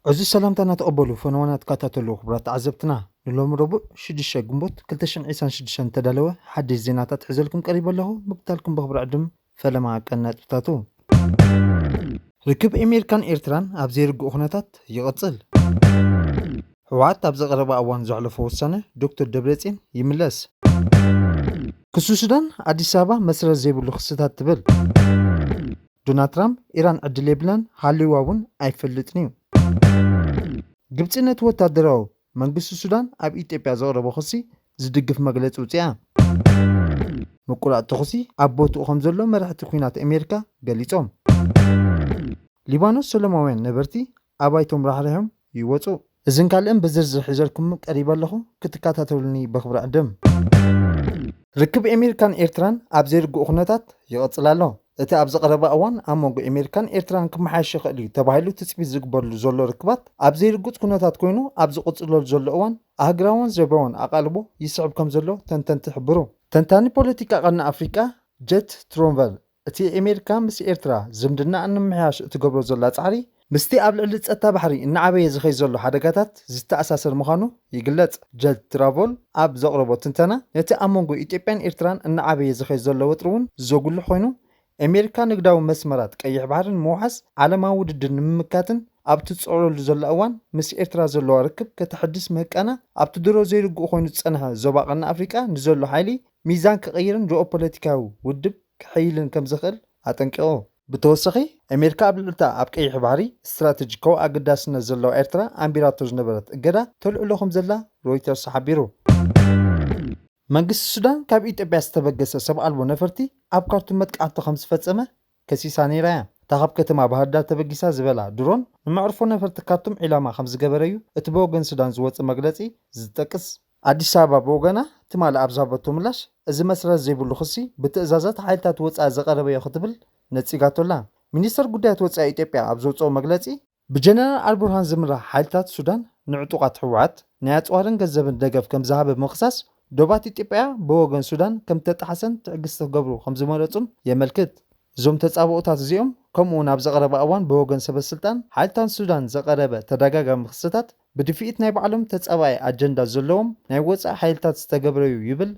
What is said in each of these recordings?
ዕዙዝ ሰላምታና ተቐበሉ ፈነወና ትከታተሉ ክቡራት ተዓዘብትና ንሎሚ ረቡዕ 6 ግንቦት 2026 ተዳለወ ሓድሽ ዜናታት ሕዘልኩም ቀሪበ ኣለኹ ምክታልኩም በኽብሪ ዕድም ፈለማ ቀን ነጥብታቱ። ርክብ ኤሜሪካን ኤርትራን ኣብ ዘይርጉእ ኩነታት ይቕጽል። ህወሓት ኣብዚ ቀረባ እዋን ዘሕለፎ ውሳነ ዶክተር ደብረጽዮን ይምለስ። ክሱ ሱዳን ኣዲስ ኣበባ መስረት ዘይብሉ ክስታት ትብል። ዶናልድ ትራምፕ ኢራን ዕድል የብላን ሃልዩዋ እውን ኣይፈልጥን'ዩ። ግብጺ ነቲ ወታደራዊ መንግስቲ ሱዳን ኣብ ኢትዮጵያ ዘቕረቦ ክሲ ዝድግፍ መግለፂ ውፂኣ። ምቁራፅ ተኹሲ ኣብ ቦትኡ ከምዘሎ መራሕቲ ኲናት ኣሜሪካ ገሊፆም። ሊባኖስ ሰለማውያን ነበርቲ ኣባይቶም ራሕሪሖም ይወፁ። እዝን ካልእን ብዝርዝር ሒዘልኩም ቀሪበ ኣለኹ ክትከታተሉኒ በኽብሪ ዕድም። ርክብ ኤሜሪካን ኤርትራን ኣብ ዘይርጉእ ኩነታት ይቕጽል ኣሎ። እቲ ኣብዚ ቀረባ እዋን ኣብ መንጎ ኤሜሪካን ኤርትራን ክመሓየሽ ይኽእል እዩ ተባሂሉ ትጽቢት ዝግበርሉ ዘሎ ርክባት ኣብ ዘይርጉጽ ኩነታት ኮይኑ ኣብ ዝቕጽለሉ ዘሎ እዋን ኣህግራዎን ዞባዎን ኣቓልቦ ይስዕብ ከም ዘሎ ተንተንቲ ይሕብሩ። ተንታኒ ፖለቲካ ቀርኒ ኣፍሪቃ ጀት ትሮንቨል እቲ ኤሜሪካ ምስ ኤርትራ ዝምድናኣ ንምምሕያሽ እትገብሮ ዘላ ጻዕሪ ምስቲ ኣብ ልዕሊ ጸጥታ ባሕሪ እናዓበየ ዝኸይድ ዘሎ ሓደጋታት ዝተኣሳሰር ምዃኑ ይግለጽ። ጀልት ትራቮል ኣብ ዘቕረቦ ትንተና፣ ነቲ ኣብ መንጎ ኢትዮጵያን ኤርትራን እናዓበየ ዝኸይድ ዘሎ ወጥሪ'ውን ዘጉልሕ ኮይኑ፣ ኣሜሪካ ንግዳዊ መስመራት ቀይሕ ባሕሪ ንምውሓስ ዓለማዊ ውድድር ንምምካትን ኣብ እትጽዕረሉ ዘላ እዋን ምስ ኤርትራ ዘለዋ ርክብ ከተሐድስ ምህቃና ኣብቲ ድሮ ዘይርጉእ ኮይኑ ዝጸንሐ ዞባ ቀርኒ ኣፍሪቃ ንዘሎ ሓይሊ ሚዛን ክቕይርን ጂኦፖለቲካዊ ውድብ ከሐይልን ከምዘኽእል ኣጠንቂቑ። ብተወሳኺ ኣሜሪካ ኣብ ልዕሊ'ታ ኣብ ቀይሕ ባሕሪ ስትራተጂካዊ ኣገዳስነት ዘለዋ ኤርትራ ኣንቢራቶ ዝነበረት እገዳ ተልዕሎ ከምዘላ ሮይተርስ ሓቢሩ። መንግስቲ ሱዳን ካብ ኢትዮጵያ ዝተበገሰ ሰብ ኣልቦ ነፈርቲ ኣብ ካርቱም መጥቃዕቲ ከምዝፈጸመ ከሲሳ ነይራ'ያ። እታ ካብ ከተማ ባህርዳር ተበጊሳ ዝበላ ድሮን ንመዕርፎ ነፈርቲ ካርቱም ዒላማ ከምዝገበረ'ዩ እቲ ብወገን ሱዳን ዝወጽእ መግለጺ ዝጠቅስ። ኣዲስ ኣበባ ብወገና ትማሊ ኣብ ዝሃበቶ ምላሽ፣ እዚ መስረት ዘይብሉ ክሲ ብትእዛዛት ሓይልታት ወጻኢ ዝቐረበዮ ክትብል ነጺጋቶ'ላ። ሚኒስተር ጉዳያት ወጻኢ ኢትዮጵያ ኣብ ዘውጽኦ መግለጺ፣ ብጀነራል ኣልቡርሃን ዝምራሕ ሓይልታት ሱዳን ንዕጡቓት ህወሓት ናይ ኣጽዋርን ገንዘብን ደገፍ ከምዝሃበ ብምኽሳስ፣ ዶባት ኢትዮጵያ ብወገን ሱዳን ከምዝተጣሕሰን ትዕግስቲ ክገብሩ ከምዝመረጹን የመልክት። እዞም ተጻብኦታት እዚኦም ከምኡ'ውን ኣብዚ ቀረባ እዋን ብወገን ሰበስልጣን ሓይልታን ሱዳን ዝቐረበ ተደጋጋሚ ክስታት፣ ብድፍኢት ናይ ባዕሎም ተፃባኢ ኣጀንዳ ዘለዎም ናይ ወፃኢ ሓይልታት ዝተገብረ'ዩ ይብል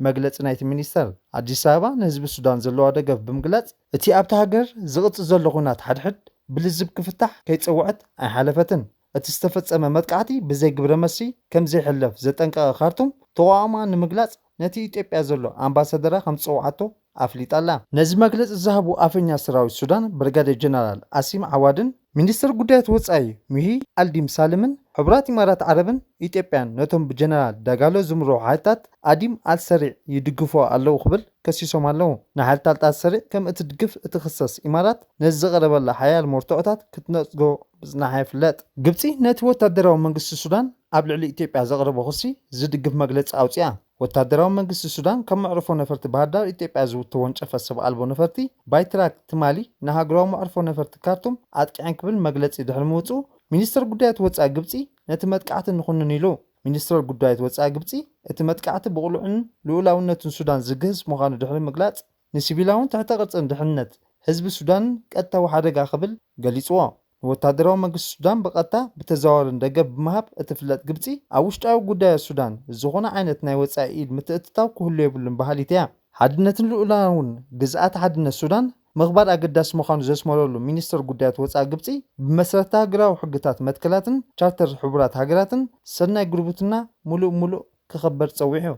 መግለፂ ናይቲ ሚኒስተር። ኣዲስ ኣበባ ንህዝቢ ሱዳን ዘለዋ ደገፍ ብምግላፅ እቲ ኣብታ ሃገር ዝቕፅል ዘሎ ኹናት ሓድሕድ ብልዝብ ክፍታሕ ከይፀውዐት ኣይሓለፈትን። እቲ ዝተፈፀመ መጥቃዕቲ ብዘይ ግብረመልሲ ከምዘይሕለፍ ዘጠንቀቐ ካርቱም ተቓውሞኣ ንምግላፅ ነቲ ኢትዮጵያ ዘሎ ኣምባሳደራ ከም ዝጸውዓቶ ኣፍሊጣ ኣላ። ነዚ መግለጺ ዝሃቡ ኣፈኛ ሰራዊት ሱዳን ብርጋዴር ጀነራል ኣሲም ዓዋድን ሚኒስተር ጉዳያት ወጻኢ ሙሂ ኣልዲም ሳልምን፣ ሕቡራት ኢማራት ዓረብን ኢትዮጵያን ነቶም ብጀነራል ዳጋሎ ዝምርሑ ሓይልታት ኣዲም ኣልሰሪዕ ይድግፉ ኣለዉ ክብል ከሲሶም ኣለዉ። ንሓይልታልት ኣልሰሪዕ ከም እትድግፍ እትኽሰስ ኢማራት፣ ነዚ ዝቐረበላ ሓያል መርትዖታት ክትነጽጎ ምጽናሓ ይፍለጥ። ግብጺ ነቲ ወታደራዊ መንግስቲ ሱዳን ኣብ ልዕሊ ኢትዮጵያ ዘቕረቦ ክሲ ዝድግፍ መግለጺ ኣውጺኣ። ወታደራዊ መንግስቲ ሱዳን ካብ መዕርፎ ነፈርቲ ባህርዳር ኢትዮጵያ ዝውተወንጨፈ ሰብ ኣልቦ ነፈርቲ ባይትራክ ትማሊ ንሃገራዊ መዕርፎ ነፈርቲ ካርቱም ኣጥቂዐን ክብል መግለጺ ድሕሪ ምውጽኡ ሚኒስተር ጉዳያት ወጻኢ ግብጺ ነቲ መጥቃዕቲ ንኹንን ኢሉ። ሚኒስትር ጉዳይት ወጻኢ ግብጺ እቲ መጥቃዕቲ ብቕሉዕን ልኡላውነትን ሱዳን ዝግህስ ምዃኑ ድሕሪ ምግላጽ፣ ንሲቪላውን ትሕተ ቅርጽን ድሕንነት ህዝቢ ሱዳንን ቀጥታዊ ሓደጋ ክብል ገሊጽዎ። ንወተሃደራዊ መንግስቲ ሱዳን ብቐጥታ ብተዘዋዋርን ደገፍ ብምሃብ እትፍለጥ ግብጺ፣ ኣብ ውሽጣዊ ጉዳያት ሱዳን ዝኾነ ዓይነት ናይ ወጻኢ ኢድ ምትእትታው ክህሉ የብሉን በሃሊት እያ። ሓድነትን ልኡላውን ግዝኣተ ሓድነት ሱዳን ምኽባር ኣገዳሲ ምዃኑ ዘስመረሉ ሚኒስተር ጉዳያት ወጻኢ ግብጺ፣ ብመሰረትሃገራዊ ሕግታት መትከላትን ቻርተር ሕቡራት ሃገራትን ሰናይ ጉርብትና ምሉእ ምሉእ፣ ክኽበር ጸዊዑ።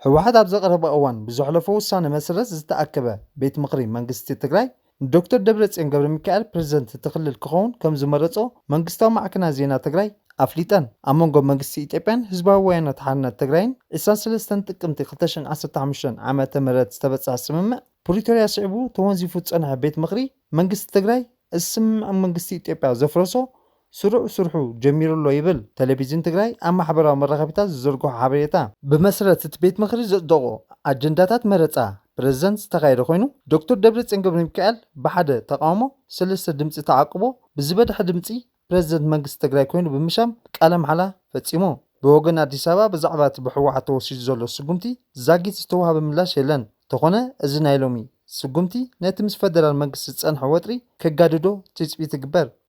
ህወሓት ኣብዚ ቀረባ እዋን ብዘሕለፎ ውሳነ መሰረት ዝተኣከበ ቤት ምኽሪ መንግስቲ ትግራይ ንዶክተር ደብረጽዮን ገብረሚካኤል ፕረዚደንት እቲ ክልል ክኸውን ከም ዝመረጾ መንግስታዊ ማዕከናት ዜና ትግራይ ኣፍሊጠን። ኣብ መንጎ መንግስቲ ኢትዮጵያን ህዝባዊ ወያናት ሓርነት ትግራይን ዕስራን ሰለስተን ጥቅምቲ ክልተ ሽሕን ዓሰርተ ሓሙሽተን ዓመተ ምህረት ዝተበጽሐ ስምምዕ ፕሪቶርያ ስዒቡ ተወንዚፉ ዝጸንሐ ቤት ምኽሪ መንግስቲ ትግራይ እዚ ስምምዕ መንግስቲ ኢትዮጵያ ዘፍረሶ ስሩዕ ስርሑ ጀሚሩ'ሎ ይብል ተለቪዝን ትግራይ ኣብ ማሕበራዊ መራኸቢታት ዝዘርግሖ ሓበሬታ። ብመሰረት እቲ ቤት ምኽሪ ዘፅደቖ ኣጀንዳታት መረፃ ፕረዚደንት ዝተኻየደ ኮይኑ፣ ዶክተር ደብረፅዮን ገብረሚካኤል ብሓደ ተቓውሞ ሰለስተ ድምፂ ተዓቁቦ ብዝበደሐ ድምፂ ፕረዚደንት መንግስቲ ትግራይ ኮይኑ ብምሻም ቃለ ማሕላ ፈፂሙ። ብወገን ኣዲስ ኣበባ ብዛዕባ እቲ ብህወሓት ተወሲዱ ዘሎ ስጉምቲ ዛጊት ዝተውሃበ ምላሽ የለን። እንተኾነ እዚ ናይ ሎሚ ስጉምቲ ነቲ ምስ ፈደራል መንግስቲ ዝፀንሐ ወጥሪ ከጋድዶ ትፅቢት ይግበር።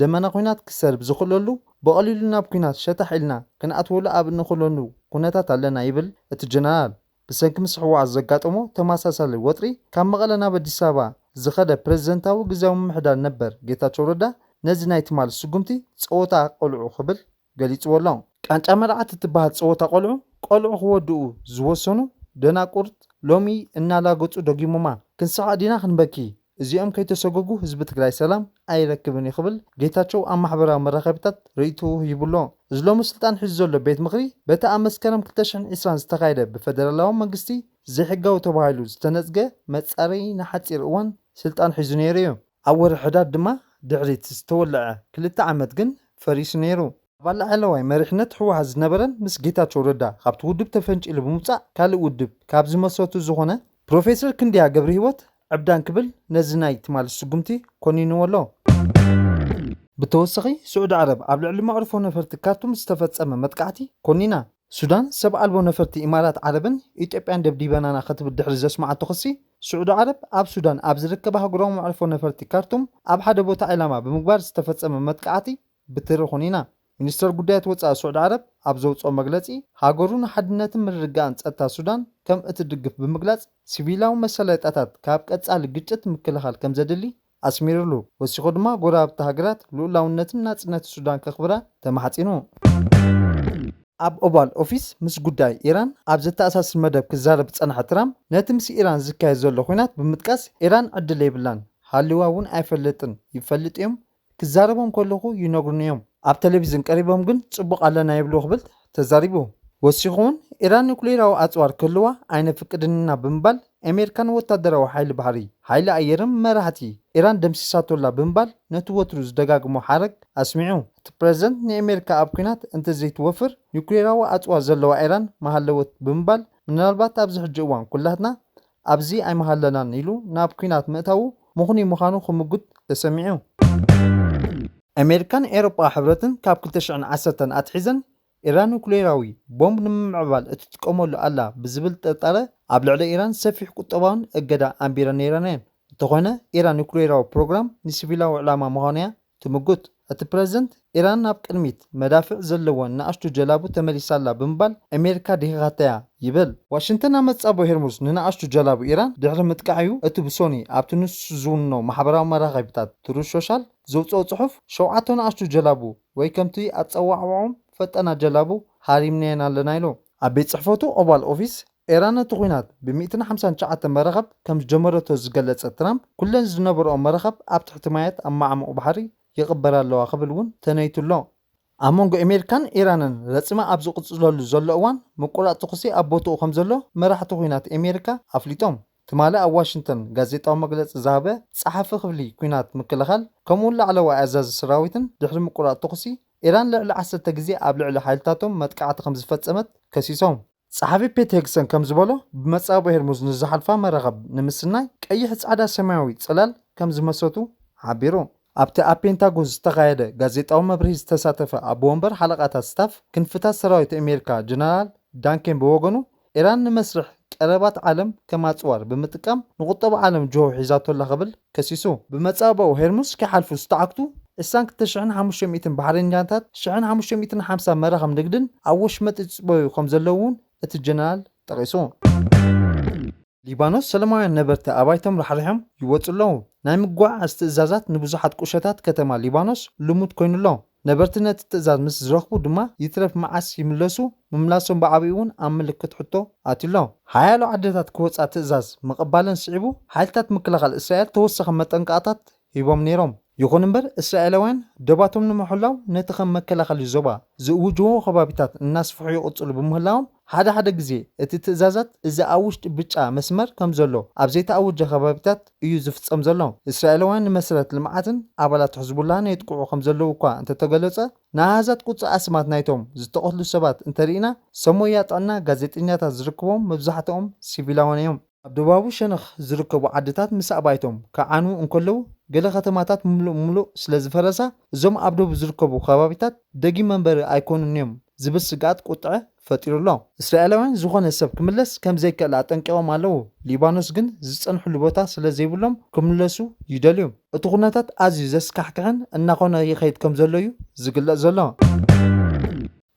ደመና ኲናት ክሰርብ ዝኽእለሉ ብቐሊሉ ናብ ኲናት ሸታሕ ኢልና ክንኣትወሉ ኣብ እንኽእለሉ ኩነታት ኣለና ይብል እቲ ጀነራል። ብሰንኪ ምስ ህወሓት ዘጋጠሞ ተመሳሳሊ ወጥሪ ካብ መቐለ ናብ ኣዲስ ኣበባ ዝኸደ ፕረዚደንታዊ ግዝያዊ ምምሕዳር ነበር ጌታቸው ረዳ ነዚ ናይ ትማሊ ስጉምቲ ፀወታ ቖልዑ ክብል ገሊጽዎ ኣሎ። ቃንጫ መርዓት እትበሃል ጸወታ ቆልዑ ቆልዑ ክወድኡ ዝወሰኑ ደናቁርት ሎሚ እናላገጹ ደጊሞማ። ክንስሓቅ ዲና ክንበኪ? እዚኦም ከይተሰጎጉ ህዝቢ ትግራይ ሰላም ኣይረክብን እዩ ክብል ጌታቸው ኣብ ማሕበራዊ መራኸቢታት ርእይትኡ ሂቡ ኣሎ። እዚ ሎሚ ስልጣን ሒዙ ዘሎ ቤት ምኽሪ በቲ ኣብ መስከረም ክልተ ሽሕን ዕስራን ዝተኻየደ ብፈደራላዊ መንግስቲ ዘይሕጋዊ ተባሂሉ ዝተነጽገ መጻረዪ ንሓጺር እዋን ስልጣን ሒዙ ነይሩ እዩ። ኣብ ወርሒ ሕዳር ድማ ድሕሪ'ቲ ዝተወልዐ ክልተ ዓመት ግን ፈሪሱ ነይሩ። ኣባል ላዕለዋይ መሪሕነት ህወሓት ዝነበረን ምስ ጌታቸው ረዳ ካብቲ ውድብ ተፈንጪሉ ብምውጻእ ካልእ ውድብ ካብ ዝመስረቱ ዝኾነ ፕሮፌሰር ክንደያ ገብረሂወት ዕብዳን ክብል ነዚ ናይ ትማሊ ስጉምቲ ኮኒንዎ ኣሎ። ብተወሳኺ ስዑዲ ዓረብ ኣብ ልዕሊ መዕርፎ ነፈርቲ ካርቱም ዝተፈጸመ መጥቃዕቲ ኮኒና። ሱዳን ሰብ ኣልቦ ነፈርቲ ኢማራት ዓረብን ኢትዮጵያን ደብዲበናና ክትብል ድሕሪ ዘስመዓቶ ክሲ፣ ስዑዲ ዓረብ ኣብ ሱዳን ኣብ ዝርከብ ኣህጉራዊ መዕርፎ ነፈርቲ ካርቱም ኣብ ሓደ ቦታ ዒላማ ብምግባር ዝተፈጸመ መጥቃዕቲ ብትሪ ኹኒና። ሚኒስተር ጉዳያት ወጻኢ ስዑዲ ዓረብ ኣብ ዘውጽኦ መግለጺ፣ ሃገሩ ንሓድነትን ምርግጋእን ጸጥታ ሱዳን ከም እትድግፍ ብምግላጽ፣ ሲቪላዊ መሰለይጣታት ካብ ቀጻሊ ግጭት ምክልኻል ከም ዘድሊ ኣስሚርሉ። ወሲኹ ድማ ጎረባብቲ ሃገራት ልኡላውነትን ናጽነት ሱዳን ከኽብራ ተማሕጺኑ። ኣብ ኦቫል ኦፊስ ምስ ጉዳይ ኢራን ኣብ ዘተኣሳስር መደብ ክዛረብ ዝጸንሐ ትራምፕ፣ ነቲ ምስ ኢራን ዝካየድ ዘሎ ኲናት ብምጥቃስ፣ ኢራን ዕድል የብላን፣ ሃልዋ እውን ኣይፈልጥን፣ ይፈልጡ እዮም፣ ክዛረቦም ከለኹ ይነግሩኒ እዮም፣ ኣብ ተለቪዝን ቀሪቦም ግን ጽቡቕ ኣለና ይብሉ ክብል ተዛሪቡ። ወሲኹ'ውን፣ ኢራን ኑክሌራዊ ኣጽዋር ክህልዋ ኣይነፍቅድን ኢና ብምባል፣ ኣሜሪካ ንወታደራዊ ሓይሊ ባሕሪ፣ ሓይሊ ኣየርን መራሕቲ ኢራን ደምሲሳቶ'ላ ብምባል ነቲ ወትሩ ዝደጋግሞ ሓረግ ኣስሚዑ። እቲ ፕረዚደንት ንኣሜሪካ ኣብ ኲናት እንተዘይትወፍር ኒዩክሌራዊ ኣጽዋር ዘለዋ ኢራን ምሃለወት ብምባል ምናልባት ኣብዚ ሕጂ እዋን ኵላትና ኣብዚ ኣይምሃለናን ኢሉ ናብ ኲናት ምእታዉ ምኽኑይ ምዃኑ ክምጕት ተሰሚዑ። ኣሜሪካን ኤውሮጳዊ ሕብረትን ካብ ክልተ ሽሕን ዓሰርተን ኣትሒዘን ኢራን ኑክሌራዊ ቦምብ ንምምዕባል እትጥቀመሉ ኣላ ብዝብል ጥርጣረ ኣብ ልዕሊ ኢራን ሰፊሕ ቁጠባውን እገዳ ኣንቢረን ነይረን'የን። እንተኾነ ኢራን ኑክሌራዊ ፕሮግራም ንሲቪላዊ ዕላማ ምዃኑ'ያ ትምጉት። እቲ ፕረዚደንት፣ ኢራን ናብ ቅድሚት መዳፍዕ ዘለወን ንኣሽቱ ጀላቡ ተመሊሳ ኣላ ብምባል ኣሜሪካ ድኺኻታ'ያ ይብል። ዋሽንግተን ኣብ መጻብቦ ሄርሙዝ ንንኣሽቱ ጀላቡ ኢራን ድሕሪ ምጥቃዕ'ዩ እቲ ብሶኒ ኣብቲ ንሱ ዝውንኖ ማሕበራዊ መራኸቢታት ትሩዝ ሾሻል ዘውጽኦ ጽሑፍ ሸውዓተ ንኣሽቱ ጀላቡ ወይ ከምቲ ኣጸዋዕውዖም ፈጠና ጀላቡ ሃሪምናየን ኣለና ኢሉ። ኣብ ቤት ጽሕፈቱ ኦቫል ኦፊስ፣ ኤራን ነቲ ኵናት ብ ሚእትን ሓምሳን ትሽዓተን መራኸብ ከም ዝጀመረቶ ዝገለጸ ትራምፕ፣ ኵለን ዝነበርኦ መራኸብ ኣብ ትሕቲ ማያት ኣብ መዓሙቝ ባሕሪ ይቕበራ ኣለዋ ክብል እውን ተነይቱ ኣሎ። ኣብ መንጎ ኤሜሪካን ኤራንን ረጽሚ ኣብ ዝቕጽለሉ ዘሎ እዋን፣ ምቍራጽ ተዅሲ ኣብ ቦትኡ ከም ዘሎ መራሕቲ ኵናት ኤሜሪካ ኣፍሊጦም። ትማሊ ኣብ ዋሽንግተን ጋዜጣዊ መግለጺ ዝሃበ ጸሓፊ ክፍሊ ኲናት ምክልኻል ከምኡ'ውን ላዕለዋይ ኣዛዚ ሰራዊትን ድሕሪ ምቁራጽ ተኹሲ፣ ኢራን ልዕሊ ዓሰርተ ግዜ ኣብ ልዕሊ ሓይልታቶም መጥቃዕቲ ከም ዝፈጸመት ከሲሶም። ጸሓፊ ፔት ሄግሰን ከም ዝበሎ፣ ብመጻብቦ ሄርሙዝ ንዝሓልፋ መራኽብ ንምስናይ ቀይሕ፣ ጻዕዳ፣ ሰማያዊ ጽላል ከም ዝመስረቱ ሓቢሩ። ኣብቲ ኣብ ፔንታጎን ዝተኻየደ ጋዜጣዊ መብርሂ ዝተሳተፈ ኣቦ ወንበር ሓለቓታት ስታፍ ክንፍታት ሰራዊት ኣሜሪካ ጀነራል ዳን ኬን ብወገኑ፣ ኢራን ንመስርሕ ቀረባት ዓለም ከም ኣጽዋር ብምጥቃም ንቁጠባ ዓለም ጅሆ ሒዛቶ ኣላ ክብል ከሲሱ። ብመጻብቦ ሄርሙዝ ክሓልፉ ዝተዓግቱ ዕስራን ክልተ ሽሕን ሓሙሽተ ሚእትን ባሕሬኛታት፣ ሽሕን ሓሙሽተ ሚእትን ሓምሳ መራኽብ ንግድን ኣብ ወሽመጥ ይጽበዩ ከምዘለዉ'ውን እቲ ጀነራል ጠቒሱ። ሊባኖስ፣ ሰለማውያን ነበርቲ ኣባይቶም ራሕሪሖም ይወጹ ኣለዉ። ናይ ምጉዕዓዝ ትእዛዛት ንብዙሓት ቁሸታት ከተማ ሊባኖስ ልሙድ ኰይኑ ኣሎ። ነበርቲ ነቲ ትእዛዝ ምስ ዝረኽቡ ድማ ይትረፍ መዓስ ይምለሱ ምምላሶም ብዓቢኡ'ውን ኣብ ምልክት ሕቶ ኣትዩ ኣሎ። ሓያሎ ዓድታት ክወጻ ትእዛዝ ምቕባለን ስዒቡ፣ ሓይልታት ምክልኻል እስራኤል ተወሳኺ መጠንቀቕታት ሂቦም ነይሮም። ይኹን እምበር እስራኤላውያን ዶባቶም ንምሕላው ነቲ ከም መከላኸሊ ዞባ ዝእውጅዎ ከባቢታት እናስፍሑ ይቕጽሉ ብምህላዎም፣ ሓደ ሓደ ግዜ እቲ ትእዛዛት እዚ ኣብ ውሽጢ ብጫ መስመር ከም ዘሎ ኣብ ዘይተኣወጀ ከባቢታት እዩ ዝፍጸም ዘሎ። እስራኤላውያን ንመሰረት ልምዓትን ኣባላት ሕዝቡላህን የጥቅዑ ከም ዘለዉ እኳ እንተተገለጸ፣ ንኣሃዛት ቁጽሪ ኣስማት ናይቶም ዝተቐትሉ ሰባት እንተርኢና፣ ሰብ ሞያ ጥዕና፣ ጋዜጠኛታት ዝርክቦም መብዛሕትኦም ሲቪላውያን እዮም። ኣብ ደቡባዊ ሸነኽ ዝርከቡ ዓድታት ምስ ኣባይቶም ክዓንዉ እንከለዉ፣ ገለ ከተማታት ምሉእ ብምሉእ ስለ ዝፈረሳ፣ እዞም ኣብ ደቡብ ዝርከቡ ከባቢታት ደጊም መንበሪ ኣይኰኑን'ዮም ዝብል ስግኣት ቍጥዐ ፈጢሩ'ሎ። እስራኤላውያን ዝዀነ ሰብ ክምለስ ከም ዘይክእል ኣጠንቂቖም ኣለዉ፣ ሊባኖስ ግን ዝጸንሕሉ ቦታ ስለ ዘይብሎም ክምለሱ ይደልዩ። እቲ ኵነታት ኣዝዩ ዘስካሕክሕን እናዀነ ይኸይድ ከም ዘሎ'ዩ ዝግለጽ ዘሎ።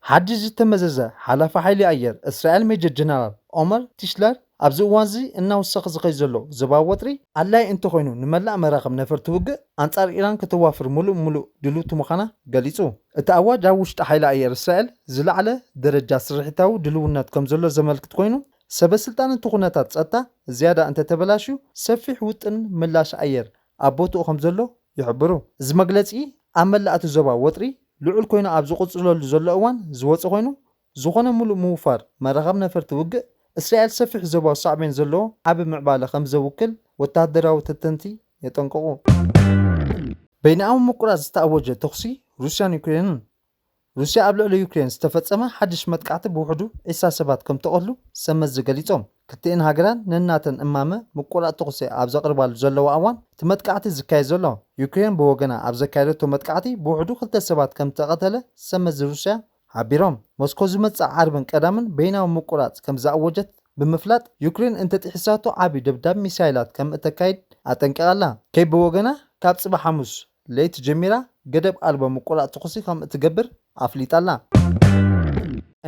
ሓድሽ ዝተመዘዘ ሓላፊ ሓይሊ ኣየር እስራኤል ሜጀር ጀነራል ኦመር ቲሽለር፣ ኣብዚ እዋን'ዚ እናወሰኸ ዝኸይድ ዘሎ ዞባዊ ወጥሪ፣ ኣድላዪ እንተኾይኑ ንመላእ መራኽብ ነፈርቲ ውግእ ኣንጻር ኢራን ከተዋፍር ምሉእ ብምሉእ ድልውቲ ምዃና ገሊጹ። እቲ ኣዋጅ ኣብ ውሽጢ ሓይሊ ኣየር እስራኤል ዝለዓለ ደረጃ ስርሒታዊ ድልውነት ከምዘሎ ዘመልክት ኮይኑ፣ ሰበስልጣን እቲ ኩነታት ጸጥታ ዝያዳ እንተተበላሽዩ ሰፊሕ ውጥን ምላሽ ኣየር ኣብ ቦትኡ ከምዘሎ ይሕብሩ። እዚ መግለጺ ኣብ መላእ'ቲ ዞባ ወጥሪ ልዑል ኮይኑ ኣብ ዝቕጽለሉ ዘሎ እዋን ዝወጸ ኮይኑ፣ ዝኾነ ምሉእ ምውፋር መራኸብ ነፈርቲ ውግእ እስራኤል ሰፊሕ ዞባዊ ሳዕቤን ዘለዎ ዓቢ ምዕባለ ከምዘውክል ወተሃደራዊ ተንተንቲ የጠንቅቑ። በይንኣዊ ምቁራጽ ዝተኣወጀ ተኹሲ ሩስያን ዩክሬንን፣ ሩስያ ኣብ ልዕሊ ዩክሬን ዝተፈጸመ ሓድሽ መጥቃዕቲ ብውሕዱ ዒስራ ሰባት ከምተቐትሉ ሰብመዚ ገሊጾም። ክልቲኤን ሃገራን ነናተን እማመ ምቁራጽ ተኹሲ ኣብ ዘቕርባሉ ዘለዋ እዋን እቲ መጥቃዕቲ ዝካየድ ዘሎ። ዩክሬን ብወገና ኣብ ዘካየደቶ መጥቃዕቲ ብውሕዱ ክልተ ሰባት ከምዝተቐተለ ሰብመዚ ሩስያ ሓቢሮም። ሞስኮ ዝመጽእ ዓርብን ቀዳምን በይናዊ ምቁራጽ ከምዝኣወጀት ብምፍላጥ ዩክሬን እንተጥሒሳቶ ዓቢ ደብዳብ ሚሳይላት ከምእተካይድ ኣጠንቂቓ ኣላ። ኬቭ ብወገና ካብ ጽባሕ ሓሙስ ለይቲ ጀሚራ ገደብ ኣልቦ ምቁላዕ ተኹሲ ከም እትገብር ኣፍሊጣ ኣላ።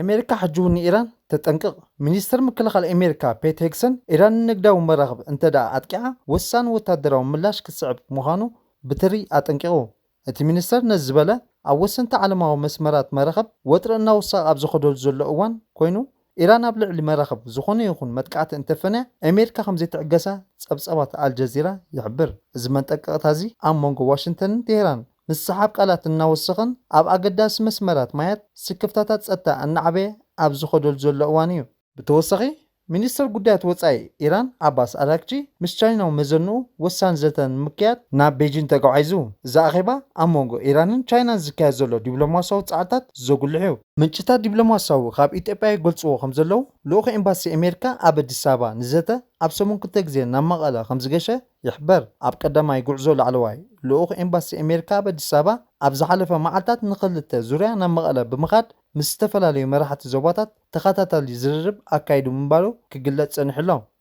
ኣሜሪካ ሕጂ'ውን ንኢራን ተጠንቅቕ። ሚኒስተር ምክልኻል ኣሜሪካ ፔት ሄግሰን፣ ኢራን ንንግዳዊ መራኽብ እንተድኣ ኣጥቂዓ ወሳኒ ወተሃደራዊ ምላሽ ክትስዕብ ምዃኑ ብትሪ ኣጠንቂቑ። እቲ ሚኒስተር ነዚ ዝበለ፣ ኣብ ወሰንቲ ዓለማዊ መስመራት መራኽብ ወጥሪ እናወሰኸ ኣብ ዝኸደሉ ዘሎ እዋን ኮይኑ፣ ኢራን ኣብ ልዕሊ መራኽብ ዝኾነ ይኹን መጥቃዕቲ እንተፈንያ ኣሜሪካ ከምዘይትዕገሳ ጸብጻባት ኣልጀዚራ ይሕብር። እዚ መንጠቀቕታ'ዚ ኣብ መንጎ ዋሽንተንን ቴህራን ምስሕሓብ ቃላት እናወሰኸን ኣብ ኣገዳሲ መስመራት ማያት ስክፍታታት ጸጥታ እናዓበየ ኣብ ዝኸደሉ ዘሎ እዋን'ዩ። ብተወሳኺ ሚኒስተር ጉዳያት ወጻኢ ኢራን ዓባስ ኣራግቺ ምስ ቻይናዊ መዘንኡ ወሳኒ ዘተ ንምክያድ ናብ ቤጂን ተጓዒዙ። እዚ ኣኼባ ኣብ መንጎ ኢራንን ቻይናን ዝካየድ ዘሎ ዲፕሎማስያዊ ጻዕርታት ዘጉልሕ'ዩ። ምንጭታት ዲፕሎማሲያዊ ካብ ኢትዮጵያ ይገልፅዎ ከምዘለዉ፣ ልኡኽ ኤምባሲ ኣሜሪካ ኣብ ኣዲስ ኣበባ ንዘተ ኣብ ሰሙን ክልተ ግዜ ናብ መቐለ ከምዝገሸ ይሕበር። ኣብ ቀዳማይ ጉዕዞ ላዕለዋይ ልኡኽ ኤምባሲ ኣሜሪካ ኣብ ኣዲስ ኣበባ ኣብ ዝሓለፈ መዓልታት ንክልተ ዙርያ ናብ መቐለ ብምኻድ ምስ ዝተፈላለዩ መራሕቲ ዞባታት ተኸታታሊ ዝርርብ ኣካይዱ ምንባሩ ክግለፅ ፀኒሑ'ሎ።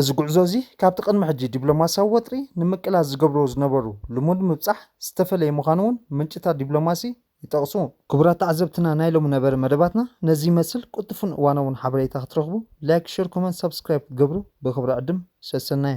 እዚ ጉዕዞ እዚ ካብቲ ቅድሚ ሕጂ ዲፕሎማስያዊ ወጥሪ ንምቅላስ ዝገብርዎ ዝነበሩ ልሙድ ምብጻሕ ዝተፈለየ ምዃኑ እውን ምንጭታት ዲፕሎማሲ ይጠቕሱ። ክቡራት ተዓዘብትና ናይ ሎሚ ነበረ መደባትና ነዚ ይመስል ቁልጡፉን እዋናውን ሓበሬታ ክትረኽቡ ላይክ ሸር ኮመንት ሳብስክራይብ ክትገብሩ ብኽብሪ ዕድም ሰሰናዩ።